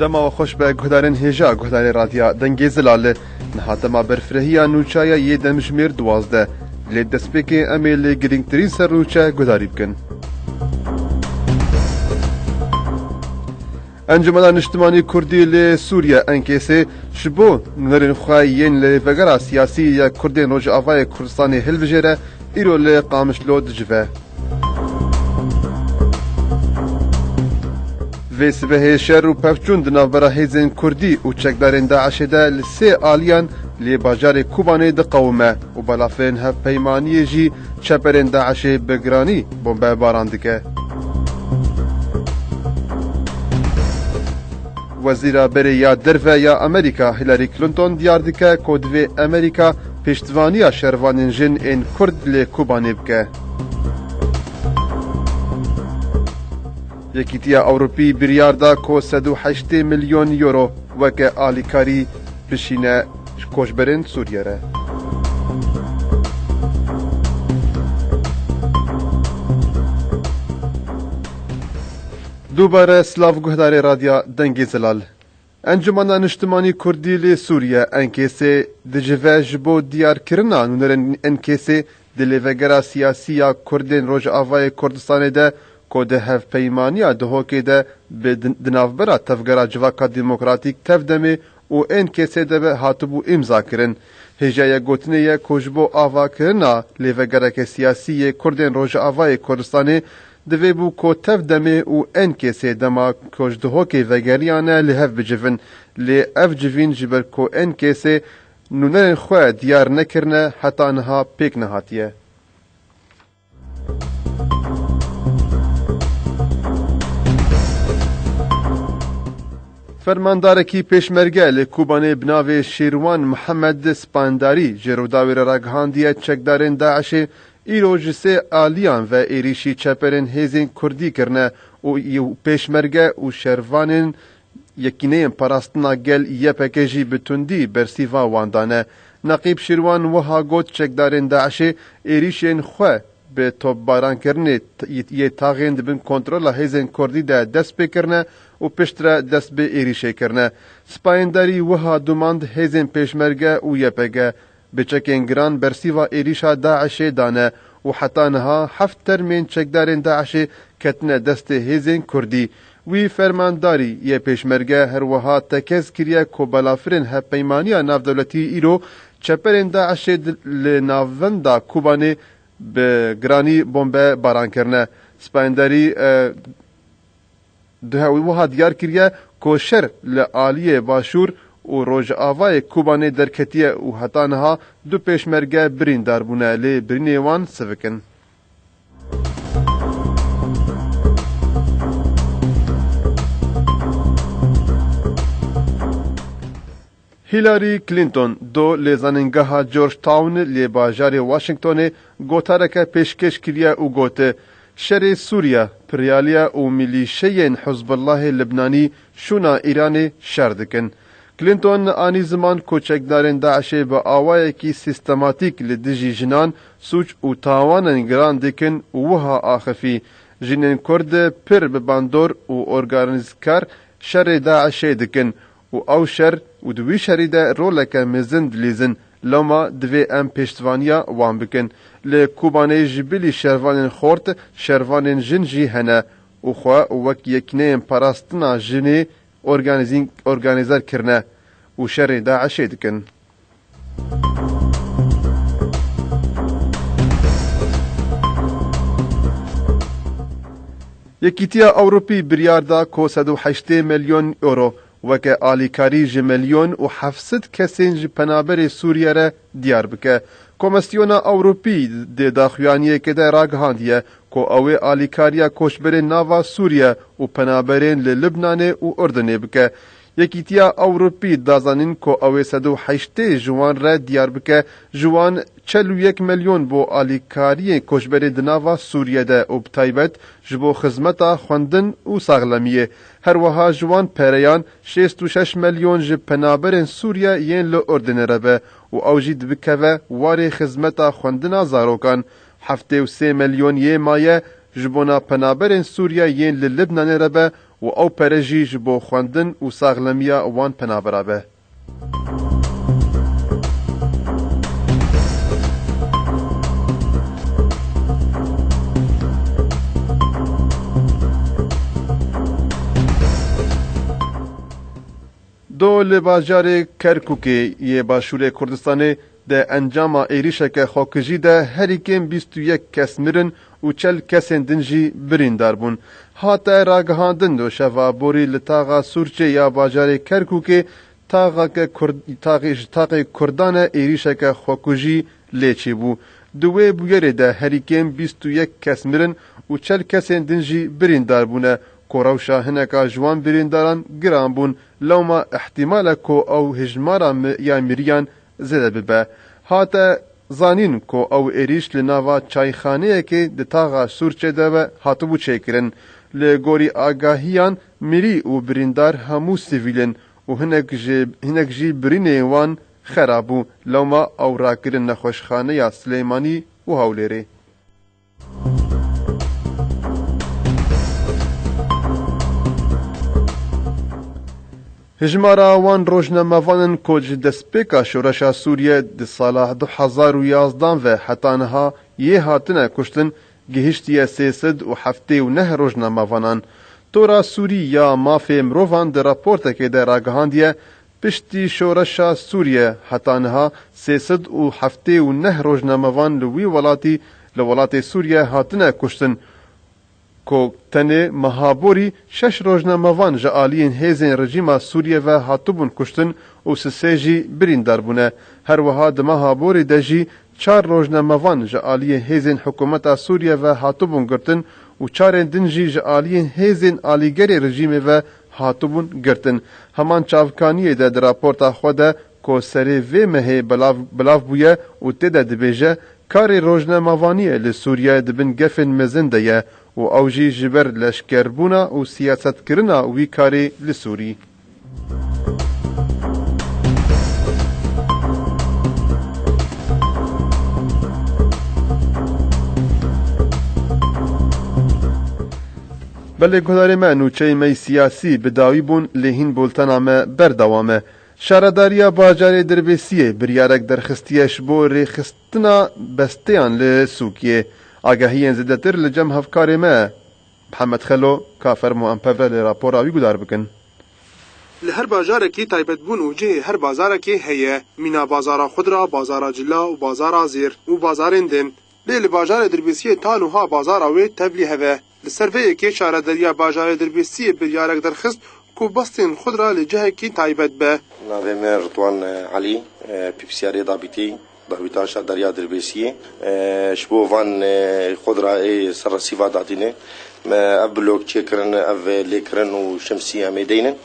Dema xweş be guhdarên hêja guhdarê radya dengê zilal li Niha dema berfirehîya nûçe ye yê demjimêr duwazdeh, lê destpêkê em ê lê girîngtirîn ser nûçe guhdarî bikin. Encûmena Niştimanî Kurdî li Sûriye, Enkêsê, ji bo nûnerên xwe yên li vegera siyasî ya Kurdên Rojavayê Kurdistanê hilbijêre, îro li Qamişlo dicive. Vê sibehê şer û pevçûn di navbera hêzên Kurdî û çekdarên DAIŞ'ê de li sê aliyan li bajarê Kobanê diqewime û balafirên hevpeymaniyê jî çeperên DAIŞ'ê bi giranî bombebaran dike. Wezîra Berê ya Derve ya Amerîka Hillary Clinton diyar dike ku divê Amerîka piştvanîya şervanên jin ên Kurd li Kobanê bike. Yekîtiya Ewropî biryar da ku sed û heştê milyon euro weke alîkarî bişîne koçberên Sûriyê re. Dubare silav guhdarê Radya Dengê Zelal. Encûmena Niştimanî Kurdî li Sûriye, Enkêsê, dicive ji bo diyarkirina nûnerên Enkêsê di lêvegera siyasî ya Kurdên Rojavayê Kurdistanê de ku di hevpeymaniya Duhokê de bi di navbera Tevgera Civaka Demokratîk, Tevdemê, û Enkêsê de be hatibû îmzakirin. Hêjayê gotinê ye ku ji bo avakirina lêvegereke siyasî yê Kurdên Rojavayê Kurdistanê Divê bû ku tev demê û en kesê dema ku ji dihokê vegeriyane li hev bicivin. Lê ev civîn ji ber ku en kesê nûnerên xwe diyar nekirine heta niha pêk nehatiye. Fermandarekî pêşmerge li Kobanê bi navê Şêrwan Mihemed Spandarî ji Rûdawê re ragihandiye çekdarên DAIŞ'ê Îro ji sê aliyan ve êrîşî çeperên hêzên kurdî kirine û pêşmerge û şervanên Yekîneyên Parastina Gel, ypg, jî bi tundî bersîva wan dane. Neqîb Şîrwan wiha got çekdarên DAIŞ'ê êrîşên xwe bi topbarankirinê yê taxên di bin kontrola hêzên kurdî de dest pê kirine û piştre dest bi êrîşê kirine. Sipayên Derî wiha domand hêzên pêşmerge û ypg Bi çekên giran bersîva êrîşa DAIŞ'ê dane û heta niha heft termên çekdarên DAIŞ'ê ketine destê hêzên kurdî. Wî fermandarî yê Pêşmerge her wiha tekez kiriye ku balafirên hevpeymaniya navdewletî îro çeperên DAIŞ'ê li navenda Kobanê bi giranî bombe baran kirine. Sipayendarî Duhewî wiha diyar kiriye ku şer li aliyê Başûr û Rojavayê Kobanê derketiye û heta niha du pêşmerge birîndar bûne lê birînê wan sivik in. Hillary Clinton do li Zanîngeha Georgetown lê bajarê Washingtonê gotareke pêşkêş kiriye û got, Şerê Sûriye, piryaliye û milîşeyên Hizbullahê Libnanî şûna Îranê şer dikin. Clinton anî ziman ku çekdarên DAIŞ'ê bi awayekî sîstematîk li dijî jinan sûc û tawanên giran dikin û wiha axifî, Jinên Kurd pir bi bandor û organîzkar şerê DAIŞ'ê dikin û ew şer û di wî şerî de roleke mezin dilîzin, loma divê em pêştvaniya wan bikin. Li Kobanê ji bilî şervanên xort, şervanên jin jî hene û xwe wek yekîneyên parastina jinê organîzîn organîzer kirine û şerê DAIŞ'ê dikin. Yekîtiya Ewropî biryar da ku sed û heştê milyon euro weke alîkarî ji milyon û heft sed kesên ji penaberê Sûriye re diyar bike. Komisyona Ewropî di daxuyaniyekê de ragihandiye ku ew ê alîkariya koçberên nava Sûriye û penaberên li Libnanê û Urdinê bike. Yekîtiya Ewropî da zanîn ku ew ê sed û heştê ji wan re diyar bike ji wan çel û yek milyon bo alîkariyên koçberê di nava Sûriyê de û bi taybet ji bo xizmeta xwendin û saxlemiyê. Her wiha ji wan pereyan şêst û şeş milyon ji penaberên Sûriye yên li Urdinê re be û ew jî dibikeve warê xizmeta xwendina zarokan. Heftê û sê milyon yê maye ji bona penaberên Sûriye yên li Libnanê re be Û ew pere jî ji bo xwendin û saxlemiya wan penabera be. Do li bajarê Kerkûkê yê başûrê Kurdistanê Di encama êrîşeke xwekijî de herî kêm bîst û yek kes mirin û çel kesên din jî birîndar bûn. Hate ragihandin doşeva borî li taxa Sûrçê ya bajarê Kerkûkê taxeke kurd taxê ji taxê kurdan e êrîşeke xwekujî lê çêbû. Di wê bûyerê de herî kêm bîst û yek kes mirin û çel kesên din jî birîndar bûne ku rewşa hineka ji wan birîndaran giran bûn lewma îhtîmal e ku ew hijmara ya miriyan Zêde bibe. Hate zanîn ku ew êrîş li nava çayxaneyekê di taxa Sûrçê de be hatibû çêkirin. Li gorî agahiyan mirî û birîndar hemû sivîl in û hinek ji hinek jî birînên wan xera bû. Lewma ew rakirin nexweşxaneya Silêmanî û Hewlêrê. Hejmara wan rojnamevan in ku ji destpêka şoreşa Sûriyê di sala du hezar û yazdan ve heta niha yê hatine kuştin gihiştiye sê sed û heftê û neh rojnamevanan. Tora Sûrî ya Mafê Mirovan di raportekê de ragihandiye, Piştî şoreşa Sûriye heta niha sê sed û heftê û neh rojnamevan li wî welatî li welatê Sûriye hatine kuştin ku tenê meha borî şeş rojnamevan ji aliyên hêzên rejîma Sûriye ve hatibûn kuştin û si sê jî birîndar bûne. Her wiha di meha borî de jî çar rojnamevan ji aliyê hêzên hikûmeta Sûriye ve hatibûn girtin û çarên din jî ji aliyên hêzên alîgerê rejîmê ve Hatibûn girtin. Heman çavkaniyê de di raporta xwe de ku serê vê mehê belav belav bûye û tê de dibêje, Karê rojnemavaniyê li Sûriye di bin gefên mezin de ye û ew jî ji ber leşkerbûna û siyasetkirina wî karê li Sûrî. Belê guhdarê me, nûçeyê me yê siyasî bi dawî bûn lê hîn bultena me berdewam e. Şaredariya bajarê Dirbêsiyê biryarek derxistiye ji bo rêxistina besteyan li Sûkiyê. Agahiyên zêdetir li cem hevkarê me Mihemed Xelo, ka fermo em pevre li rapora wî gudar bikin. Li her bajarekî taybetbûn û cihê her bazarekê heye. Mîna bazara xudra, bazara cila û bazara zêr û bazarên din. Lê li bajarê Dirbêsiyê ta nuha bazara wê tevlî heve. Li ser vê yekê Şarederiya Bajarê Dirbêsiyê biryarek derxist ku bastên xwe ra li cihekî taybet be. Navê me Ritwan Elî, pîpsiyarê dabîtî dawîta Şarederiya Dirbêsiyê. Ji bo van xwe ra ê ser resîva dadînê me ev blok çêkirin, ev lêkirin û şemsî em ê deynin.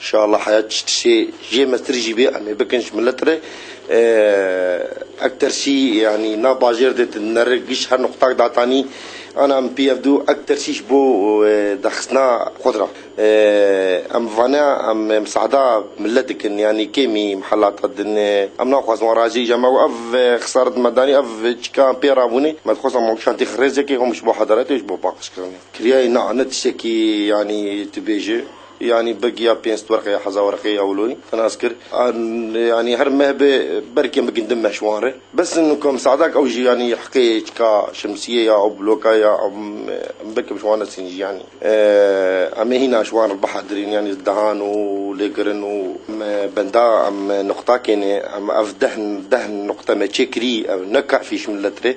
Şala heya çi tiştê jê mestir jî bê em ê bikin ji milet re. Ek tersî yanî nav bajêr de tu nere giş her nuqtak datanî ana em pî ev dû ek tersî ji bo daxistina xwe ra em bi vane em misada milet dikin yanî kêmî mihelata din em naxwazin wan razî îja me û ev xisaret me danî ev çîka em pê rabûnê me dixwazin em şantê xirêzekê hom ji bo hedaletê û ji bo paqijkirinê kiriyayê na ne tiştekî yanî tu bêje. Yanî bi giya pênc werqê ya hezawerqê ya Wloyî tinas kir. Yanî her meh be berkên bi gindin meh ji wan re. Bes in ku em sadak ew jî yanî hiqê çika şemsiyê ya ew bloka ya em berke bi ji wan re sîn jî yanî em ê hîna ji wan re bihedirîn yanî li dehan û lêkirin û em benda em nuqtakê ne em ev deh deh nuqte me çêkirî ew ne kafî ji milet re.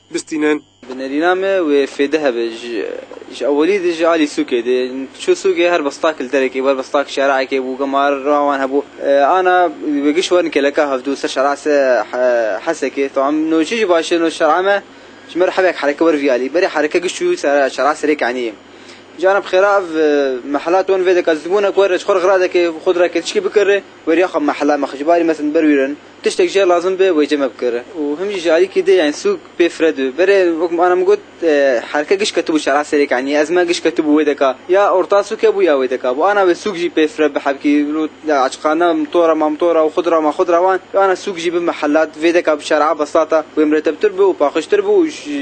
bistînin. Bi nêrîna me wê fêde hebe. Ji ewelî de jî alî sûkê dê. Çû sûkê her bi stak li derekê wer bi stak şereekê bû gama roha wan hebû. Ana wê giş werin keleka hevdû ser şerea se hesekê. Tawa em no çi jî baş e no şerea me ji me re hevek hereke wer vî alî. Berê hereke giş çû ser şerea serê keniyê. Ji ana bi xêra ev mehela ton vê deka zitbûnek wer ji xwe re xiradeke xwe dira ke tişkî bikire weriya xwe mehela me xwe ji barî me send ber wîrin. Tiştek jî lazim be wê cem e bikire û him jî ji alîkî dê yanî sûg pê fire dû. Berê wek min ana min got herke giş ketibû şera serêk yanî ezme giş ketibû wê deka ya orta sûg hebû ya wê deka bû ana wê sûg jî pê fire bihebkî rû aciqane mitora ma mitora û xudra ma xudra wan ya ana sûg jî bi mihelat vê deka bi şera beslata wê miretebtir bi û paxijtir bi û ji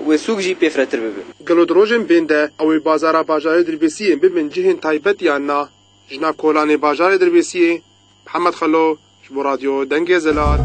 wê sûg jî pê firetir bibe. Gelo di rojên bên de ew ê bazara bajarê Dirbêsiyê bibin cihên taybet yan na? Jina kolanê bajarê Dirbêsiyê Mihemed Xelo Ji bo Radyo Dengê Zelal.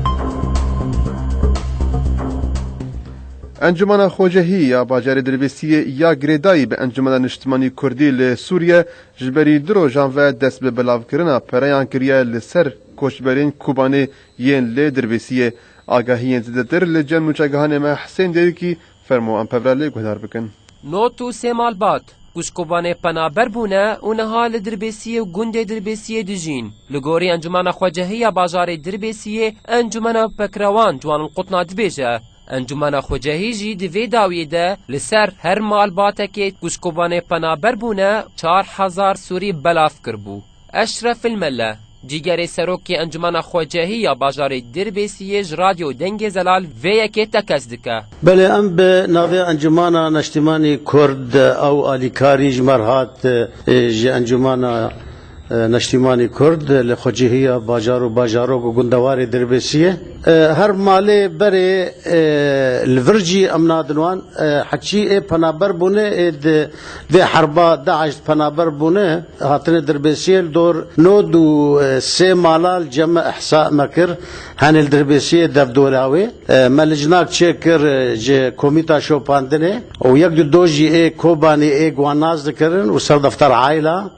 Encumena Xwecehî ya Bajarê Dilbîsiyê ya girêdayî bi Encumena Niştimanî Kurdî li Sûriye ji berî du rojan ve dest bi belavkirina pereyan kiriye li ser koçberên Kobanê yên li Dilbîsiyê. Agahiyên zêdetir li cem nûçegihanê me Hisên Dêwikî Fermo em pevra lê guhdar bikin. Not û sê mal bat, ku ji kobanê penaber bûne û niha li Dirbêsiyê û gundê Dirbêsiyê dijîn. Li gorî encumena xwecehî ya bajarê Dirbêsiyê Encumena Pekrewan ji wan qutna dibêje. Encumena xwecehî jî di vê dawiyê de li ser her malbatekê ku ji kobanê penaber bûne çar hezar Sûrî belav kiribû. Eşref El Melle, cîgerê serokê Encumena Xwecehî ya bajarê Dirbêsiyê ji Radyo Dengê Zelal vê yekê tekez dike. Belê em bi navê Encumena Neştîmanî Kurd ew alîkarî ji me re hat ji Encumena Neştîmanî Kurd li Xwecehî ya bajar û bajarok û gundewarê Dirbêsiyê. Her malê berê li vir jî em nadin wan. Heçî ê penaber bûne ê di Vê herba DAIŞ di penaber bûne hatine dirbêsiyê li dor nod û sê mala li Ceme Ihsa me kir. Henê li dirbêsiyê dev dora wê. Me licnak çê kir ji komîta şopandinê û yek du dojî ê Kobanê ê guhan nas dikirin û serdefter aîla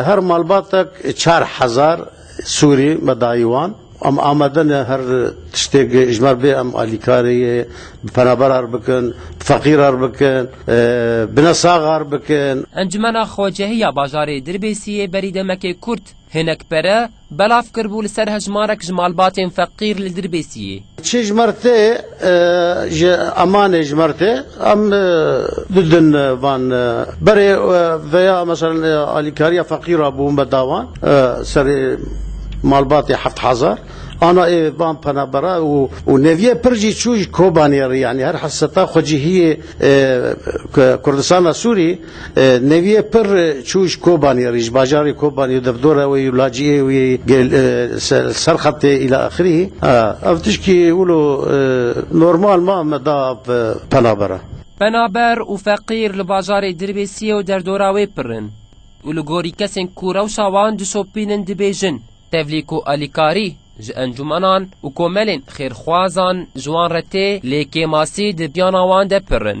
her malbatek çar hezar Sûrî me dayî wan. Em amade ne her tiştêk ji me re bê em alîkarê yê bi penaberan re bikin, bi feqîran re bikin, bi nesaxan re bikin. Encûmena Xwecehî ya bajarê Dirbêsiyê berî demekê kurt hinek pere belav kiribû li ser hejmarek ji malbatên feqîr li Dirbêsiyê. Çi ji me re tê. Ji Amanê ji Mertê em du din van berê veya meselen alîkariya feqîr a bûn bedawan serê malbatê heft hezar ana ê van penebera û neviyê pir jî çû ji Kobanê re yanî her heseta xwecihiyê Kurdistana Sûrî Nevîye pir çû ji Kobanî re, ji bajarê Kobanî û derdora wê û laciyê wê li ser xetê îla axirî. Ev tişkî wilo normal ma me da penaber e. Penaber û feqîr li bajarê Dirbêsiyê û derdora wê pir in û li gorî kesên ku rewşa wan dişopînin dibêjin, tevlî ku alîkarî ji encûmenan û komelên xêrxwazan ji wan re tê lê kêmasî di biyana wan de pir in.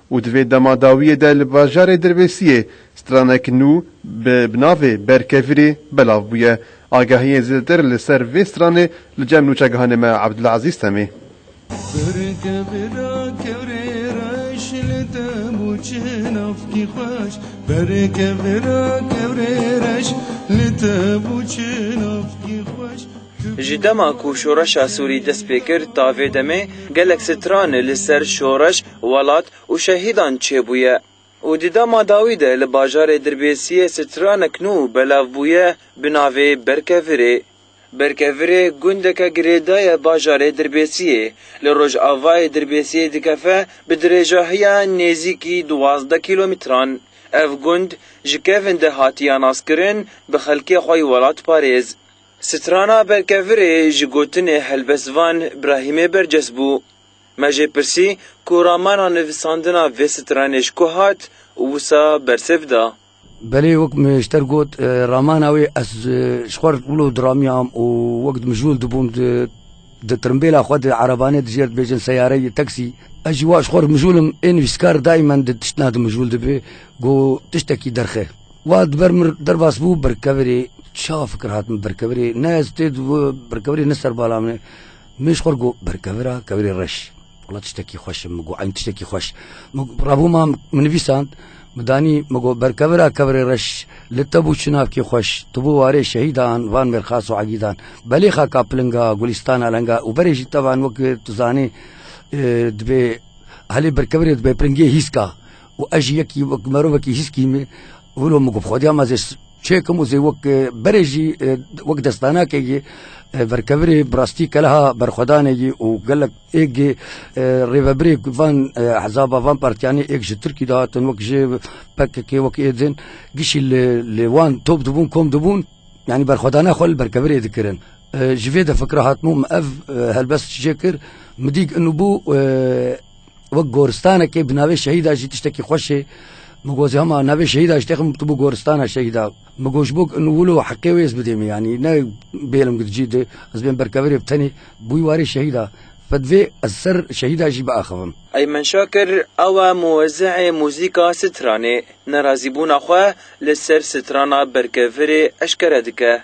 û di vê dema dawiyê de li bajarê Dirbêsiyê stranek nû bi navê Berkevirî belav bûye. Agahiyên zêdetir li ser vê stranê li cem nûçegihanê me Abdulezîz Temî. Ji dema ku şoreşa Sûrî dest pê kir ta vê demê gelek stran li ser şoreş, Welat û şehîdan çêbûye û di dema dawî de li bajarê Dirbêsiyê stranek nû belav bûye bi navê Berkevirê. Berkevirê gundeke girêda ye bajarê Dirbêsiyê, li rojavayê Dirbêsiyê dikeve bi dirêjahiya nêzîkî duwazdeh kîlomîtran. Ev gund ji kevin de hatiya naskirin bi xelkê xwe yê welatparêz. Strana Berkevirê ji gotinê helbestvan Brahîmê berces bû. Me jê pirsî ku ramana nivîsandina vê stranê ji ku hat û wisa bersiv da. Belê wek Mejter got, ramana wê ez ji xwe re wilo diramiyam û wek di mijûl de bûm di tirimbêla xwe de erebanê dijêr dibêjin seyareyê, taksî. Ez jî wa ji xwe re mijûl im. Ê nivîskar daymen di tiştna de mijûl dibe ku tiştekî derxe. Wa di ber min re derbas bû berkevirê. Çawa fikir hat min berkevirê? Ne ez tê di berkevirê ne serbala min e. Min ji xwe re got berkevira kevirê reş. Wala tiştekî xweş e, min got eynî tiştekî xweş. Min revûma min nivîsand, min danî, min got berkevira kevirê reş, li te bû çinavkê xweş, tu bû warê şehîdan van mêrxas û egîdan. Belê xaka pilinga, gulîstana lenga û berê jî te van weke tu zanî dibê helê berkevirê dibê pilingê hîska û ez jî yekî wek merovekî hîskî me wilo min got xwediya me zê çêkim û zê wek berê jî wek destanakê yê verkevirê bi rastî keleha berxwedanê yê û gelek êk yê rêvebirê van hezaba van partiyanê êk ji Tirkî de hatin wek jê pkk wek êdin gişî li li wan top dibûn kom dibûn yanî berxwedana xwe li berkevirê dikirin ji vê de fikra hatibû min ev helbest jê kir min dît inû bû Wek goristanekê bi navê şehîda jî tiştekî xweş e. Min got hema navê şehîda ji têxim tu bû goristana şehîda. Min got ji bo in wilo heqê wê ez bidême yanî ne bêlim di cî de ez bên berkevirê bi tenê bûy warê şehîda. Fe divê ez ser şehîda jî biaxivim. Eymen Şakir ew e muwezîhê muzîka stranê. Nerazîbûna xwe li ser strana berkevirê eşkere dike.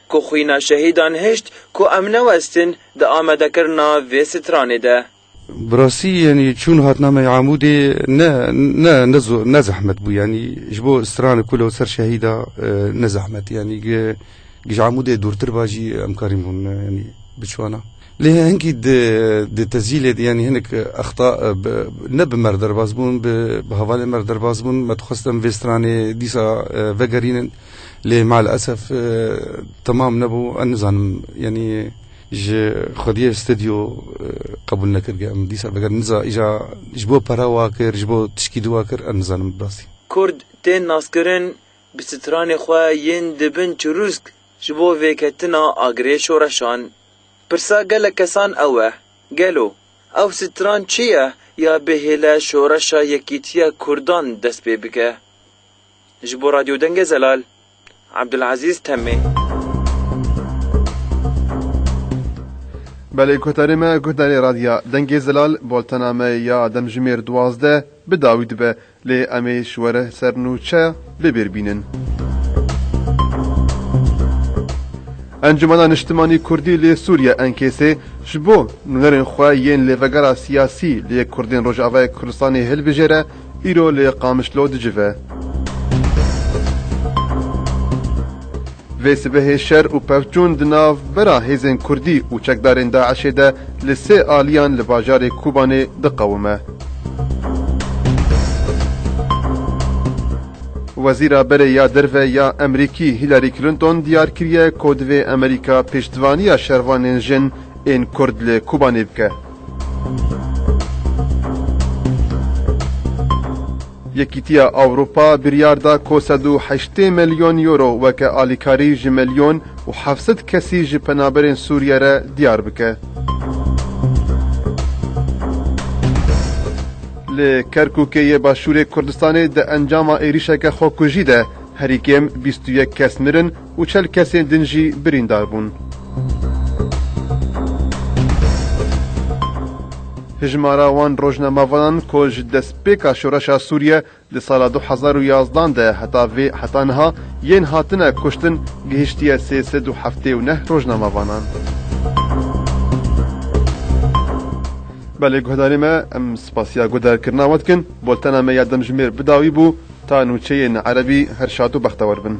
Ku xwîna şehîdan hişt ku em newestin di amadekirina vê stranê de. Bi rastî yanî çûn hatnameyê Amûdê ne ne ne zor ne zehmet bû yanî ji bo stran ku li ser şehîda ne zehmet yanî gi gi ji Amûdê dûrtir ba jî em karîn hûn yanî biçûana. Lê hinkî di di tezîlê de yanî hinek exta bi ne bi mer derbas bûn bi bi hevalên mer derbas bûn me dixwest em vê stranê dîsa vegerînin. Lê malesef temam nebû. Ez nizanim yanî ji xwediyê stedyo qebûl nekirge em dîsa veger niza îja ji bo pera wa kir ji bo tişkî di wa kir ez nizanim bi rastî. Kurd tên naskirin bi stranê xwe yên di bin çirûsk ji bo vêketina agirê şoreşan. Pirsa gelek kesan ew e, gelo ew stran çi ye ya bihêle şoreşa yekîtiya kurdan dest pê bike? Ji bo Radyo Dengê Zelal, Abdulazîz Temmê. Belê guhdarê me guhdarê Radya Dengê Zelal boltena me ya demjimêr duwazdeh bi dawî dibe lê em ê ji were ser nûçe bê bêr bînin. Encumena Niştimanî Kurdî lê Sûriye Enkêsê ji bo nûnerên xwe yên lê vegera siyasî lê Kurdên Rojavayê Kurdistanê hilbijêre, Îro li Qamişlo dicive. Vê sibehê şer û pevçûn di nav bera hêzên Kurdî û çekdarên DAIŞ'ê de li sê aliyan li bajarê Kûbanê diqewime. Wezîra Berê ya Derve ya Emerîkî Hillary Clinton diyar kiriye ku divê Emerîka piştvaniya şervanên jin ên Kurd li Kûbanê bike. Yekîtiya Ewropa biryar da ku sed û heştê milyon euro weke alîkarî ji milyon û heft sed kesî ji penaberên Sûriyê re diyar bike. Li Kerkûkê yê Başûrê Kurdistanê di encama êrîşeke xwekujî de herî kêm bîst û yek kes mirin, û çel kesên din jî birîndar bûn. Hijmara wan rojnamavanan ku ji destpêka şoreşa Sûriye di sala du hezar û yazdan de heta vê heta niha yên hatine kuştin gihiştiye sê sed û heftê û neh rojnamavanan. Belê guhdarê me, em spasiya guhdarkirina we dikin, bultena me ya demjimêr bi dawî bû ta nûçeyên erebî her şad û bextewer bin.